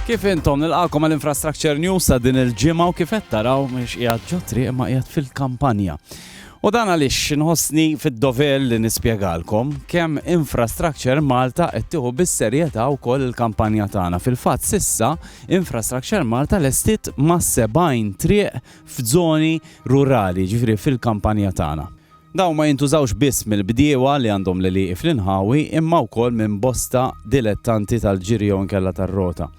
Kif intom nilqakom għal Infrastructure News ta' din il-ġimgħa u kif qed taraw mhux qiegħed ġotri imma qiegħed fil-kampanja. U dan għaliex nħossni fid-dover li nispjegalkom kemm Infrastructure Malta qed tieħu bis-serjetà wkoll il-kampanja tagħna. Fil-fatt sissa Infrastructure Malta lestit ma' 70 triq f'żoni rurali, ġifri fil-kampanja tagħna. Dawn ma jintużawx biss mill-bdiewa li għandhom l-għelieqi fl-inħawi imma wkoll minn bosta dilettanti tal-ġiri jew inkella tar-rota,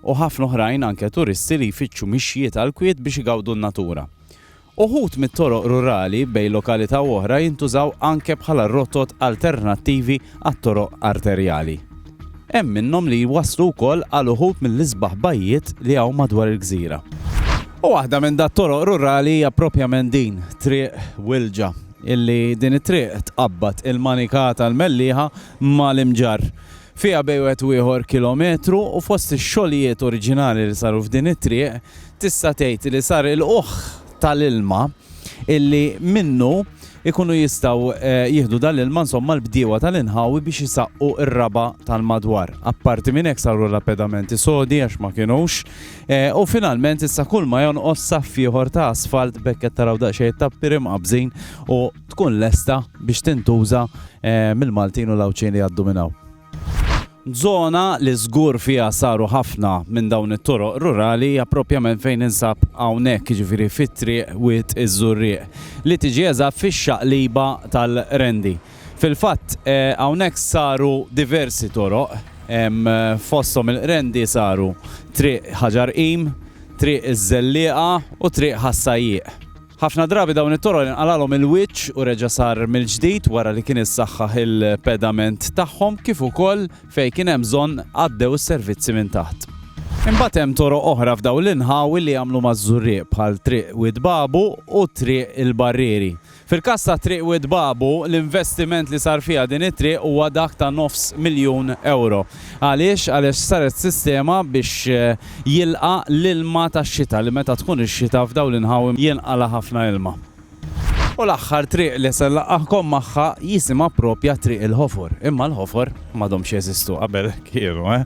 u ħafna oħrajn anke turisti li jfittxu mixjiet għall-kwiet biex igawdu n-natura. Uħud mit-toroq rurali bejn lokalità u oħra jintużaw anke bħala rotot alternattivi għat-toroq arterjali. Hemm minnhom li jwasslu wkoll għal uħud mill-isbaħ bajjiet li hawn madwar il-gżira. U waħda minn dat-toroq rurali hija proprjament din, Triq Wilġa, illi din it-triq tqabbad il-Manika tal-Mellieħa ma' l-Imġarr. Fiha bejn wieħed u ieħor kilometru u fost ix-xogħlijiet oriġinali li saru f'din it-triq tista' tgħid li sar il-qugħ tal-ilma illi minnu ikunu jistgħu jieħdu dal-ilma insomma l-bdiewa tal-inħawi biex isaqqu r-raba' tal-madwar. Apparti minn hekk saru lapedamenti sodi għax ma kinux u finalment issa kull ma jonqos saff ieħor ta' asfalt b'hekk qed taraw daqsxejn it-tappieri mqabbżin u tkun lesta biex tintuża mill-Maltin u l-Għawdxin li jgħaddu minn hawn. Żona li żgur fiha saru ħafna minn dawn it-toroq rurali hija proprjament fejn ninsab hawnhekk, jiġifieri fi Triq Wied iż-Żurrieq, li tiġi eżatt fix-xaqliba tal-Qrendi. Fil-fatt, hawnhekk saru diversi toroq, fosthom il-Qrendi saru Triq Ħaġar Qim, Triq iż-Żellieqa u Triq Ħas-Sajjieq. Ħafna drabi dawn it-toroq inqalagħlhom il-wiċċ u reġa' sar mill-ġdid wara li kien issaħħaħ il-pedament tagħhom kif ukoll fejn kien hemm bżonn għaddew is-servizzi minn taħt. Imbagħad hemm toroq oħra f'dawn l-inħawi li jagħmlu maż-Żurrieq bħal Triq Wied Babu u Triq il-Barrieri. Fil-każ ta' Triq Wied Babu, l-investiment li sar fiha din it-triq huwa dak ta' nofs miljun ewro. Għaliex? Għaliex saret sistema biex jilqa' l-ilma tax-xita li meta tkun ix-xita f'dawn l-inħawi jinqala' ħafna ilma. U l-aħħar triq li se nlaqqagħkom magħha jisimha proprja Triq il-Ħofor. Imma l-ħofor m'għadhomx jeżistu, qabel kienu, eh!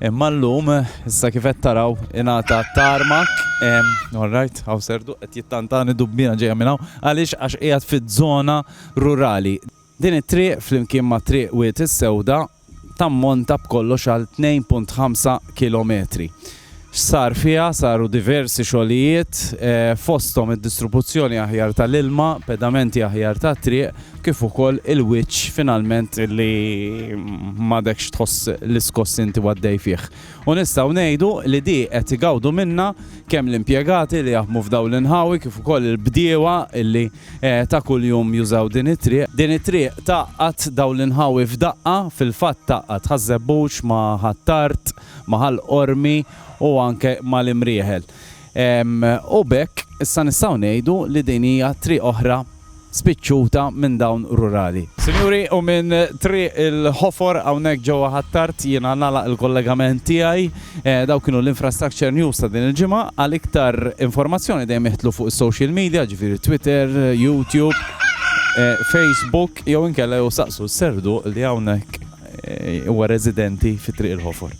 Imma llum, issa kif qed taraw, ingħata tarmak. Orrajt, hawn Serdu qed jittantani dubbina ġejja minn hawn. Għaliex? Għax qiegħed fiż-żona rurali. Din it-triq, flimkien ma' Triq Wied is-Sewda, tammonta b'kollox għal 2.5 kilometri. X'sar fiha, saru diversi xogħlijiet, fosthom id-distrubuzzjoni aħjar tal-ilma, pedamenti aħjar tat-triq, kif ukoll il-wiċċ finalment li m'għadekx tħoss l-iskoss li inti għaddej fih. U nistgħu ngħidu li di qed igawdu minnha kemm l-impjegati li jaħdmu f'dawn l-inħawi kif ukoll il-bdiewa li ta' kuljum jużaw din it-triq. Din it-triq tgħaqqad dawn l-inħawi f'daqqa, fil-fatt tgħaqqad Ħaż-Żebbuġ ma' Ħ'Attard, ma' Ħal Qormi u anke mal-Imrieħel. U b'hekk issa nistgħu ngħidu li din hija triq oħra spiċċuta minn dawn rurali. Sinjuri, u minn Triq il-Ħofor hawnhekk ġewwa Ħ'Attard jiena nagħlaq il-kollegament tiegħi. Dawk kienu l-Infrastructure News ta' din il-ġimgħa. Għal iktar informazzjoni dejjem iħtlu fuq is-social media, ġifieri Twitter, YouTube, Facebook jew inkella jew saqsu s-Serduq li hawnhekk huwa residenti fi Triq il-Ħofor.